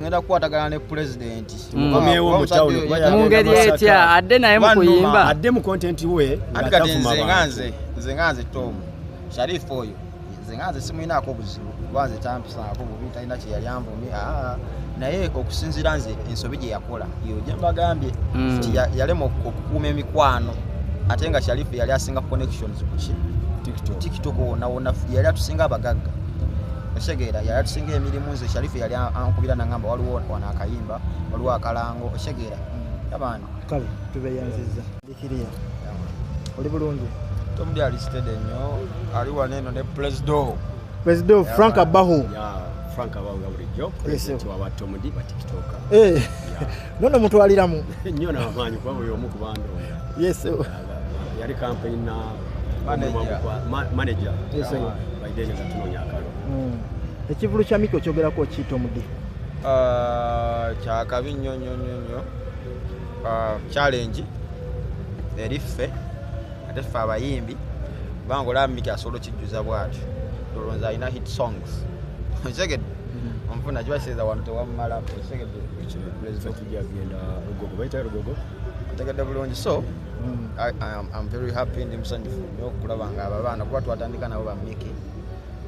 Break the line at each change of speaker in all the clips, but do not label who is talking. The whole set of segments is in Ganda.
ngenda kukwatagana ne pulezidenti mm.
mu ngeri etya
adde naye mu kuyimba adde mu kontenti we
anti kati nze nga
nze nze nga nze tomu sharifu oyo nze nga nze simulinaako buzibu kuba nze tampisaako bubi talina kyeyali anvumi aa naye okusinziira nze ensobi gye yakola yo gye mbagambye mm. nti yalema okukuuma emikwano ate nga sharifu yali asinga connections kuki tiktok wonawona yali atusinga abagagga osegeera yali atusinga emirimu nze sharifu yali ankubira nangamba waliwo wano akayimba waliwo akalango osegeera abantu kale
tubeyanziza dikiriya oli bulungi tomudi ali
sitede nnyo ali wano eno ne presido presido
frank abahu frank abahu
nga bulijjo presidenti wawa tomudi batikitoka eh.
nono mutwaliramu nnyo namaanyi
kuba buli omu kubandonda yes yali kampani na manaja baideni nga tunonya akalo hmm. ekivulu
kya miki okyogerako okiyita omudi ah,
kyakabi nnyo nnyo nnyo nnyo ah, challenge eri ffe ate ffe abayimbi kubanga olaba miki asobola okijjuza bwatyo tolonza alina hit songs okitegedde hmm. onfuna kiba kiseeza wanu tewammala okitegedde
ntegedde bulungi
so mm. I, I am, I'm very happy ndi musanyufu nyo okulaba nga abo abaana kuba twatandika nabo bamiki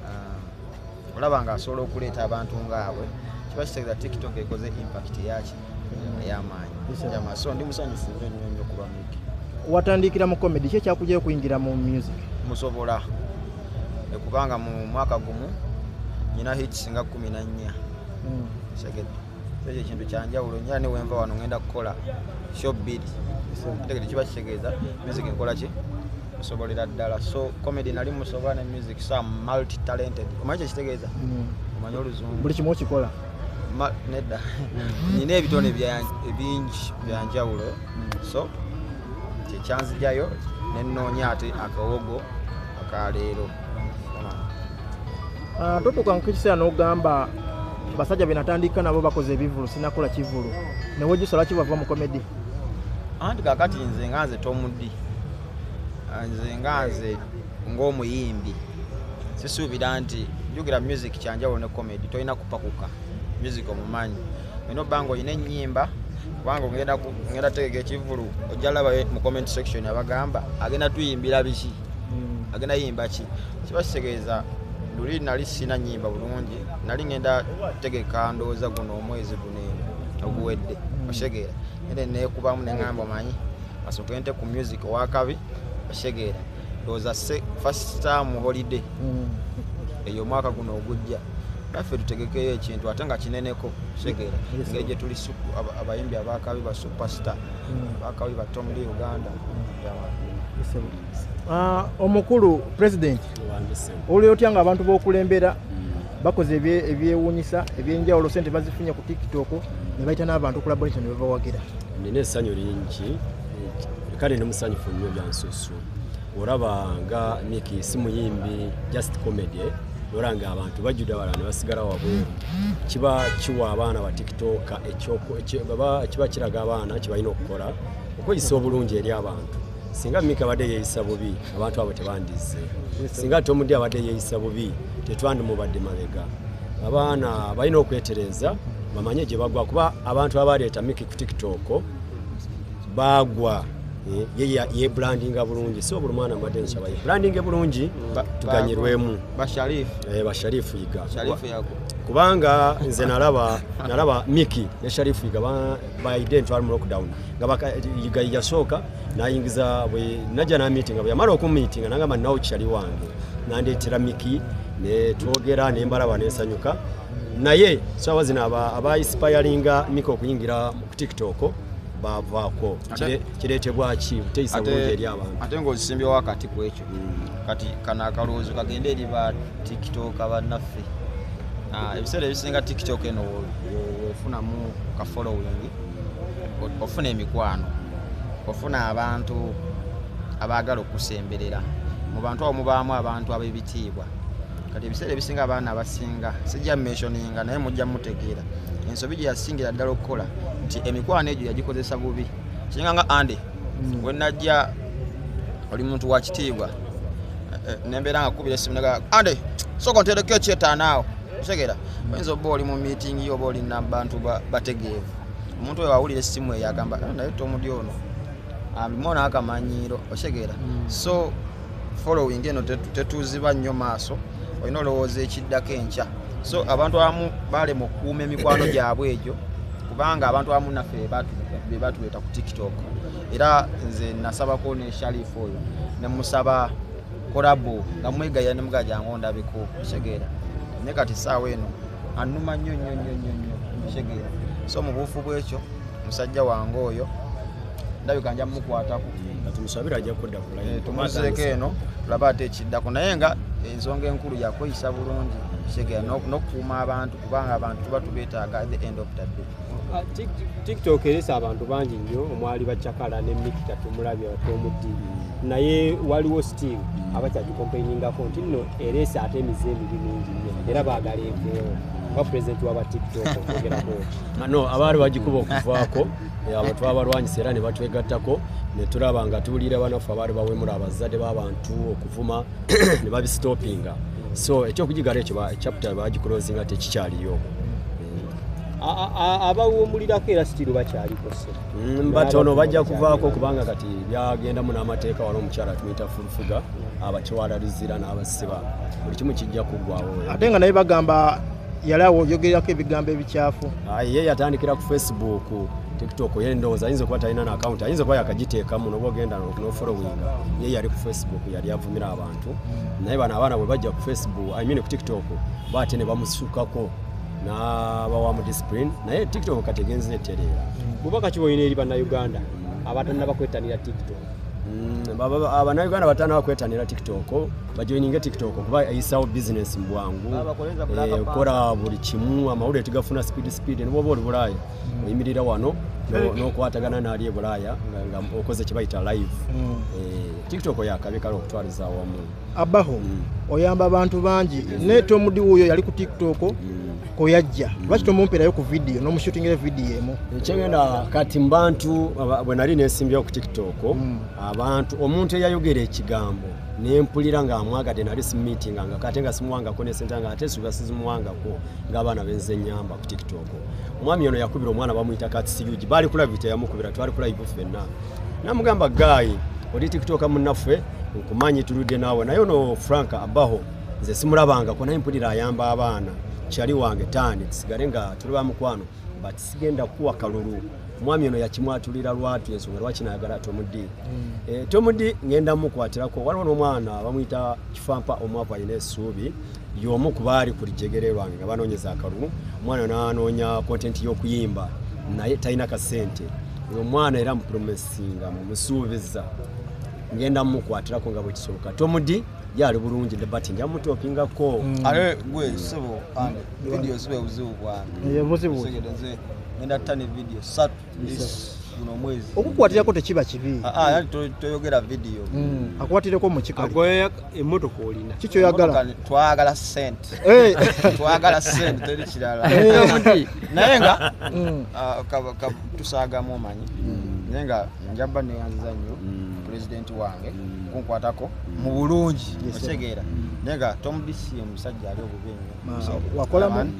uh, olaba nga asobola okuleeta abantu ngaabwe kiba kitegeeza tiktok ekoze impact yaki eyamaanyi yama so ndi musanyufu nyo nyo nyo kuba miki watandikira mu
comedy ki ekyakujayo okuyingira mu music musobola
ekubanga mu mwaka gumu nyina hits nga kumi na nnya mm. segedde ekyo ekintu kyanjawulo nyo ne wenva wano ngenda kukola sho bbiri ategede kiba kitegeeza music nkola ki musobolera ddala so comedy nali musobola ne music so am multi talented omanyi kyekitegeeza mm. omanyi oluzungu buli kimu okikola
nedda
mm. nina ebitone ebingi byanjawulo mm. so kyekyanzijayo nenoonya ate akawogo akaleero
Ah, totuuka mu kiseera n'ogamba basajja be natandika nabo bakoze ebivulu sinakola kivulu newe gisala kibava mu komedi anti
kakati nze nga nze tomudi ah, nze nga nze ng'omuyimbi sisuubira nti njogera music kyanjawulo ne comedy tolina kupakuka music omumanyi olina obba nga olina ennyimba kubanga ogenda tegeka ekivulu ojja laba mu comment section abagamba agenda tuyimbira biki hmm. agenda yimba ki kiba kitegeeza luli nali sina nyimba bulungi nali ngenda tegeka ndowooza guno omwezi guno eno oguwedde hmm. osegeera ere nekubamu neŋamba manyi asoke nte ku music owakabi osegeera ndowooza first time holiday hmm. eyo omwaka guno ogujja naffe tutegekeyo ekintu ate nga kineneko segera engeri gyetuli abayimbi abakabi ba superstar abakabi ba tomli uganda
Ah, omukulu president olio otya nga abantu bokulembera mm. bakoze ebyewunyisa ebyenjawulo sente bazifunye ku tiktok nebaita n'abantu collaboration nebabawagira nina esanyu
lingi kale ndi musanyufu nnyo byansusu olaba nga niki si muyimbi just comedy olaba nga abantu bajjude wala ne basigala wabweru kiba kiwa abaana ba tiktok kiba kiraga abaana kibalina okukola okweyisa obulungi eri abantu singa mika abadde yeeyisa bubi abantu abo tebandizze singa tomudi abadde yeeyisa bubi tetwandimubadde mabega abaana balina okwetereeza bamanye gye bagwa kuba abantu abaleeta miki ku tiktok baagwa eh, yebrandinga bulungi si obuli mwana mbadde nkyaba yebrandinge bulungi tuganyirwemu basharifu eh, yiga kubanga nze nalaba nalaba miki ne sharifu yiga by then twali mu lockdown nga bakayiga yasooka nayingiza bwe najja na meeting nga bweyamala okumiitinga nangamba nawo kitali wange nandeetera miki ne twogera ne mbalaba nensanyuka naye saawa zino abaisipayalinga mika okuyingira ku tiktok bavaako kireetebwa ki buteyisa bulungi eri abantu ate ngaozisimbyewo akati
ku ekyo hmm. kati kano akalowoozo kagende eri ba tiktok abannaffe ah, ebiseera ebisinga tiktok eno wefunamu ka following ofuna emikwano ofuna abantu abaagala okusemberera mu bantu awo mubaamu abantu ab'ebitiibwa kati ebiseera ebisinga abaana abasinga sijja mentioninga naye mujja mutegeera ensobi gye yasingira ddala okukola nti emikwano egyo yagikozesa bubi kiringa nga andi mm. wenajja oli muntu wa kitiibwa eh, eh, nembeera nga kubira esimu naga andi soka ontereko ekyetaanaawo otegera oyinza oba oli mu miitingi yo oba oli nabantu bategeevu omuntu oyo awulira essimu eyo agamba ah, naye tomudi ono amimona akamanyiiro otegera mm. so following eno tetuziba nnyo maaso olina olowooza ekiddako enkya so abantu abamu balema okukuuma emikwano gyabwe egyo kubanga abantu abamu naffe bebatuleeta ku tiktok era nze nasabako ne shalifu oyo nemusaba kolabo nga mwegaya nemuga jangu ondabeko kitegeera ne kati saawa eno anuma nnyo nnyo nnyo nnyo nnyo kitegeera so mu buufu bwekyo musajja wange oyo ndabika nja mumukwatako
Eh, tumuzeeko eno
tulaba ate ekiddako naye nga ensonga enkulu yakweyisa bulungi segera nokukuuma abantu kubanga abantu tuba tubetaaga the end of the day ah, tiktok eresa
abantu bangi nnyo omwali bacakala ne mikita tumulabya tomuddi naye waliwo still abakyagikompainingako nti nno eresa ate emize emibi mingi nnyo era baagala enveewo nga pulezidenti waba tiktok ogerako no abaali
bagikuba okuvaako abo twabalwanyisa era ne batwegattako ne tulaba nga tuwulira banaffe abaali bawemula abazadde b'abantu okuvuma ne babisitopinga so ekyokugigala ekyo chapita bagikulozinga tekikyaliyo
abawumulirako era sitiru bakyaliko mm, batono bajja
kuvaako kubanga kati byagendamu n'amateeka wala omukyala tumuyita fulufuga abakiwalarizira n'abasiba buli kimu kijja kuggwawo ate nga naye bagamba
yali awo oyogerako ebigambo ebikyafu ah, ye yatandikira
ku facebook tiktok ye ndowooza ayinza okuba talina na akawunti ayinza okuba yakagiteekamu noba ogenda nofolowinga ye yali ku facebook yali avumira abantu naye bano abaana bwe bajja ku facebook i mean ku tiktok baate ne bamusukako nabawa mu discipline naye tiktok kategenza etereera bubaka kiba olina eri
bannauganda abatanna bakwettanira tiktok
abanauganda batandika kwetanira tiktok bajoininge tiktok kuba eyisawo bizinesi mu bwangu okukola eh, buli kimu amawulire tigafuna speed speed nibwoba oli bulaaya hmm. oyimirira wano nokwatagana naali ebulaaya nga okoze kyebayita live hmm. eh, tiktok yakabi kale okutwaliza awamu abaho
oyamba abantu bangi naye tomudi wuyo yali ku tiktok koyajja lwaki tomumperayo ku vidiyo nomushutingira vidiyo emu ekyengenda kati
mubantu bwe nali nesimbyewo ku tiktok hmm. abantu omuntu eyayogera ekigambo nempulira nga amwagade nali simumitinga nga kate nga simuwangako nesente nga ate suga sizimuwangako ngaabaana benze nyamba ku tiktok omwami ono yakubira omwana bamuyita katsiyugi baali kulabi teyamukubira twali kulayivu ffenna namugamba gaayi oli tikitoka munnaffe nkumanyi tuludde naawe naye ono frank abaho nze simulabangako naye mpulira ayamba abaana kyali wange taani tusigale nga tuli ba mukwano but sigenda kuwa kalulu omwami ono yakimwatulira lwatu ensonga lwaki nayagala tomudi hmm. eh, tomudi ngenda mukwatirako waliwo n'omwana bamuyita kifampa omwavu alina esuubi y'omu ku baali ku lijjegere lwange nga banoonyeza akalulu omwana n'anoonya kontenti y'okuyimba naye talina kasente oyo omwana era mupromesinga mumusuubiza ngenda mumukwatirako nga bwekisoboka tomudi yali bulungi ne bati nja mutopingako mm. ate gwe
sebo ande vidiyo zibe buzibu bwange
ngenda
tane vidiyo satu okukwatirako tekiba kibi
ah, ah, toyogera
vidiyo hmm, akwatireko
mukikaligoya emotoka
olina kikyoyagala
twagala sente
eh. twagala sente teri kirala eh. naye nga hmm. ah, tusagamu omanyi hmm. naye nga njaba neyanziza nnyo pulezidenti wange kunkwatako mu bulungi otegeera naye nga tomudisiye omusajja ali obubi nnyo wakolamu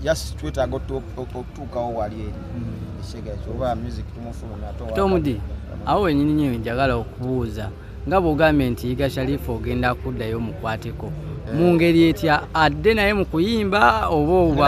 yes twetaaga
okutuukawo wali eri mm. ekisegaza oba music tumufulumya tomudi
awo wenyini nyo njagala okubuuza nga bwogambye nti yiga sharifu ogenda kuddayo mukwateko eh. mu ngeri etya adde naye mu kuyimba oba oba